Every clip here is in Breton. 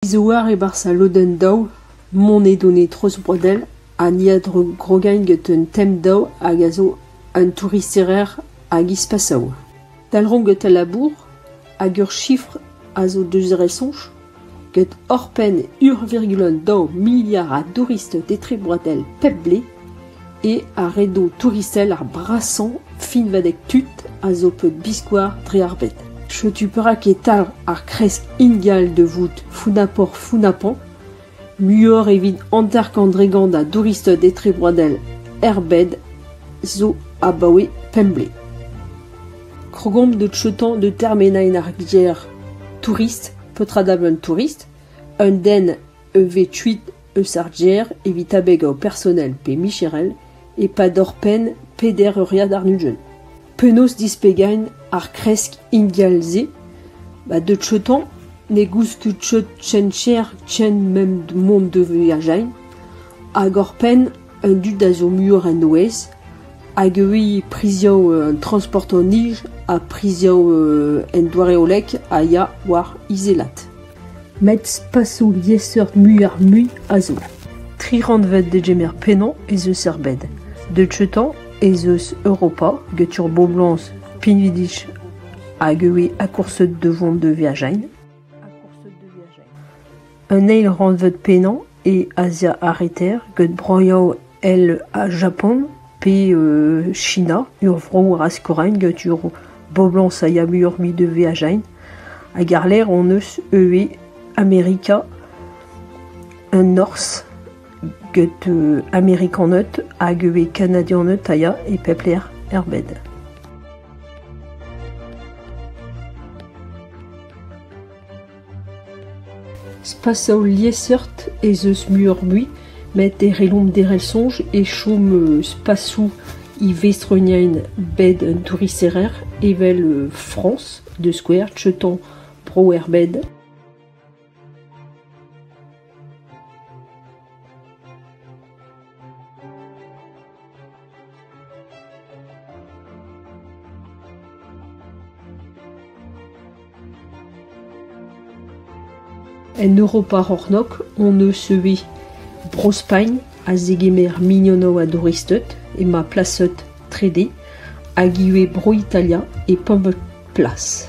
Izoar e-barzh al lodenn daou, monet on e Trozbrodell ha ni a grogain get un tem daou hag a zo un touristerezh hag ispasav. Dalc'homp get al labour hag ur sifr a zo deus re soñj get oc'hpenn ur virgul daou miliard a douristed etre Brodell pep blez. E ar redo touristel ar brasañ finvadeg tud a zo peuzbiskoazh dre ar bed. Setu perak e talv ar kresk ingal da vout founapoc'h-founapañ, muioc'h evit hanter-kant dregont a douristed etrebroadel er bed zo abaoe pemp blez. Krogomp da cheutañ da termenañ ar gêr tourist, petra da benn tourist, un den E vez kuit eus ar gêr evit abegañ ho personel pe micherel e-pad hor penn peder euriad ar nugent. Penaos displegain ar kresk ingal-se ? Ba deut cheutañ ne goust ket cheut ken cher ken mont da voyajain hag hor penn An dud a zo muioc'h en noez hag ivez priziañ an transport en nij ha priziañ en doare-hollek a ya war izelat. Met spasoù liesseurt muioc'h-mui a zo. Tri rannved degemer pennañ ez eus er bed. Deuet outañ ez eus Europa get ur boblañs pinvidik hag ivez akourset da vont da Virginie. Un eil rannved pennañ e Azia ar Reter gant broioù all ha Japon pe China, ur vro razkorain gant ur boblañs a ya muioc'h-mui da veajaén. Hag àr-lerc'h hon eus ivez Amerika an Norzh gant Amerikaned hag ivez Kanadianed a ya e pep lec'h er bed. Spasañ liesseurt ez eus muioc'h-mui met e c'hellomp derc'hel soñj e chom spasoù ivestronien bed un touristerezh evel Frañs da skouer, Teuton, Bro-Herbed. En Europa c'hornôg hon eus ivez Bro-Spagn a zegemer mignonnoù a douristed emañ plaset trede hag ivez Bro-Italia e pemp plas.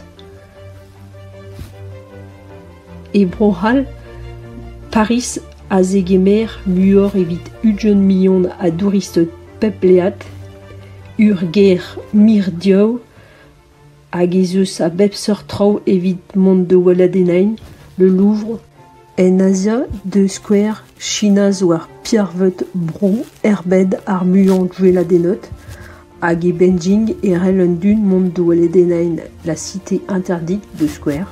E Bro-C'hall, Pariz a zegemer muioc'h evit ugent million a douristed pepleat, ur gêr mirdiv hag ez eus a bep seurt traoù evit mont da weladenniñ le Louvre. En Azia, da skouer, China zo ar pirvet bro erbet ar muiañ gweladennot, hag e Beijing e rell an dud mont da weladenniñ La Cité Interdite da skouer.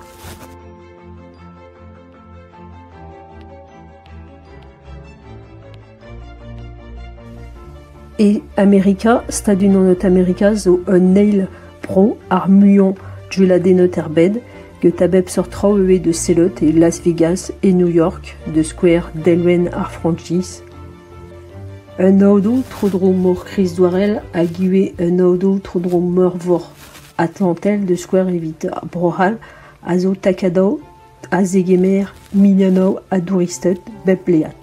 E Amerika, Stadoù-Unanet-Amerika zo un eil pro ar muiañ dueladennet er bed, get a bep seurt traoù ivez de sellout e Las Vegas e New York, da skouer delwenn ar franchise. Un aodo tro-dro mor Krizdouarel hag ivez un aodo tro-dro meurvor Atlantel, da skouer evit ar Bro-C'hall, a zo takadav a zegemer milianaù a douristed bep blead.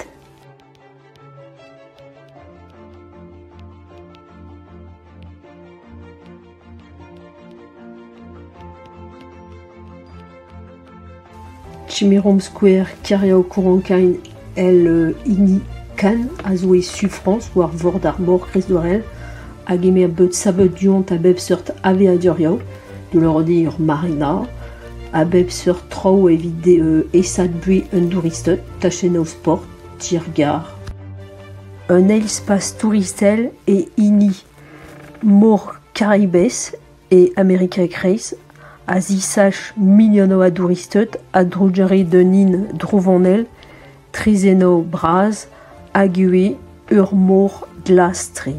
Timirom skouer Keriaokoronkain el hini Kan a zo e su Frañs war vord ar mor Kristvorel a gemer beud saveudiont a bep seurt aveaduriañ, deuet ur marina, A bep seurt traoù evit esaduiñ un douristed, tachennoù sport, tiergarr. Un eil-spazh touristel e hini Mor Karaibes e Amerika e-kreiz a zisach milionoù a douristed a-drugarez d'un hin drouvonel, traezhennoù bras hag ivez ur mor glas-tre.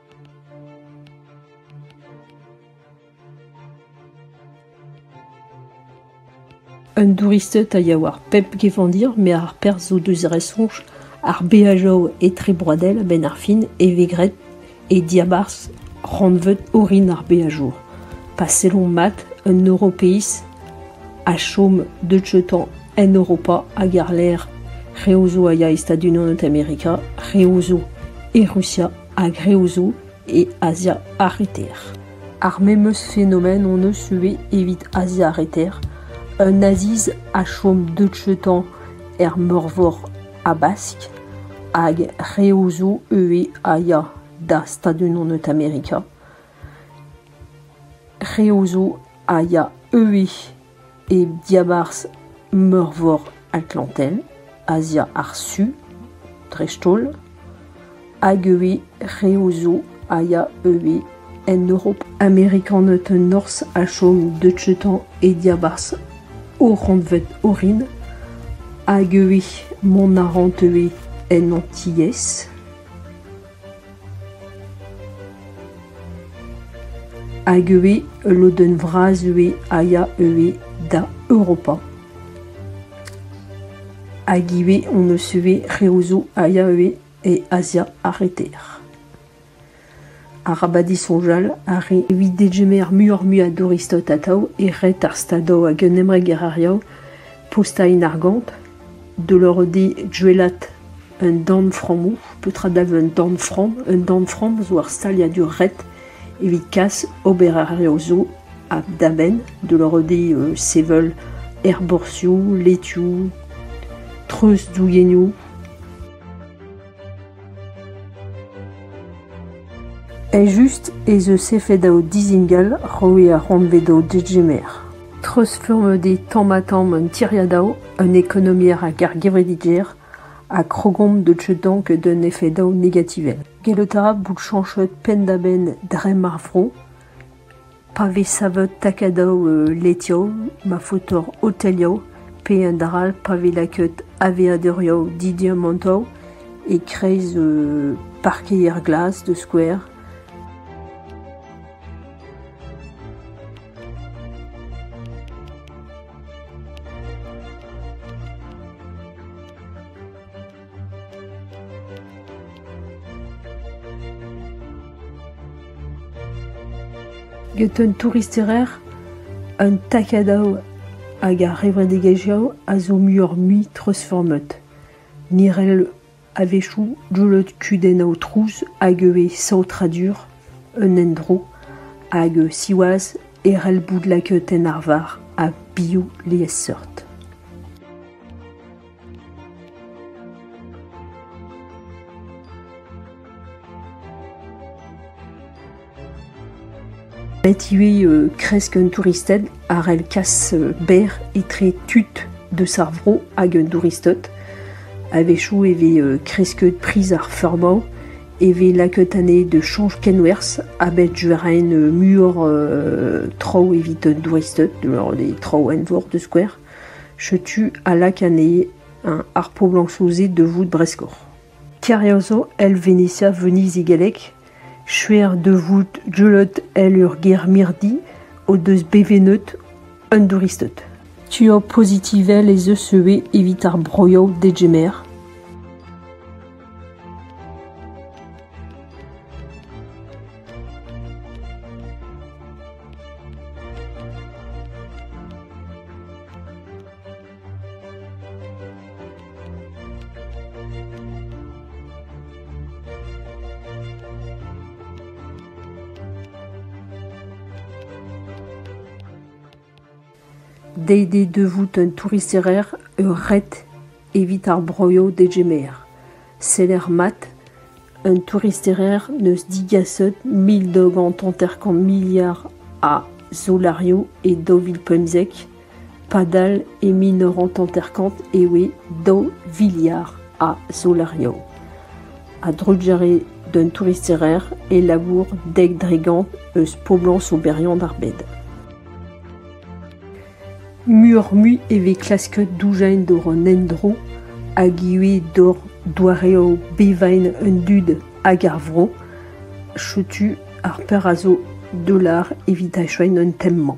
Un douristed a ya war pep gevandir met ar perzh zo deus ar soñj ar beajoù etrebroadel a-benn ar fin e vez graet e diabarzh rannvod orin ar beajour pa sellomp mat un Europiz a chom deuzeuitañ en Europa hag àr-lerc'h reoù zo a ya e Stadoù-Unanet Amerika reoù zo e Rusia a-greñv zo e Azia ar Reter. Ar memes fenomen hon eus ivez evit Azia ar Reter. Un Aziz a chom deutshetan er Meurvor Habask hag reoù zo ivez a ya da Stadoù-Unanet Amerika. Reoù zo a ya ivez e diabarzh Meurvor Atlantell, Azia ar Su dreist-holl, hag ivez reoù zo a ya ivez en Europa. Amerikaned norzh a chom deutshetan e diabarzh o rannved orin, hag ivez mont a raent ivez en Antilhez. Hag ivez ul lodenn vras ivez a ya ivez da Europa. Hag ivez hon eus ivez reoù zo a ya ivez e Azia ar Reter. Arabat disoñjal ar re evit degemer muioc'h-mui a douristed atav e red ar stadoù hag un emregerañ postañ en argant, deuet eo di Gwelat Un dornframmoù, petra dalv un dornframm? Un dornframm zo ur staliadur ret evit kas obererezhioù zo da-benn da lorradiñ sevel aerborzhioù, letioù, treuzdouennoù. Eljust ez eus efed o dizingal roet ar c'hantvet o degemer. Treuzfurmet eo tamm-ha-tamm un tiriad-ao, un ekonomier hag ar gevredigezh ha krogomp da deuañ d'un efedaoù negativel. Gellout a ra bout chañchet penn-da-benn dremm ar vro pa vez savet takadoù letioù, ma faotr otelioù pe un dra all pa vez lakaet aveadurioù didiamantoù e-kreiz parkeier glas da skouer. Get un touristerezh, un takadav hag ar revredigezhioù a zo muioc'h-mui treuzfurmet. Ni 'rell A-wechoù, gwelout kudenn aotrouz hag ivez saotradur un endro hag, siwazh, herrel boud laketenn arvar ha bioù liesseurt. Bet ivez kresk un touristed a c'hell kas berr etre tud deus ar vro hag un douristed. A-wechoù e vez kresket priz ar feurmañ, e vez lakaet anezhe da chañch kenwerzh ha bet ren muioc'h traoù evit un douristed, des traoù eñvor da skouer. Setu a lak anezhe ar poblañsoù-se da vout breskoc'h. Tirioso el Venezia veneziegelek, shuer da vout deuet en ur gêr mirdi o deus bevennet an douristed. Tua pozitivel ez eus ivez evit ar broioù degemer. Dezhe da vout un touristerezh ur ret evit ar broioù degemer. Seder mat, un touristerezh n'eus digaset mil daou gant hanter-kant miliard a zolariou e daou vil pemzek, padal e mil nav c'hant hanter-kant e oe daou viliard a zolariou. A-drugarez d'un touristerezh e labour dek dregont eus poblañs oberiant ar bed. Muioc'h-mui e vez klasket doujañ doc'h an endro hag ivez doc'h doareoù bevañ an dud hag ar vro. Setu ar perzh a zo Dollar evit achueiñ an tem-mañ.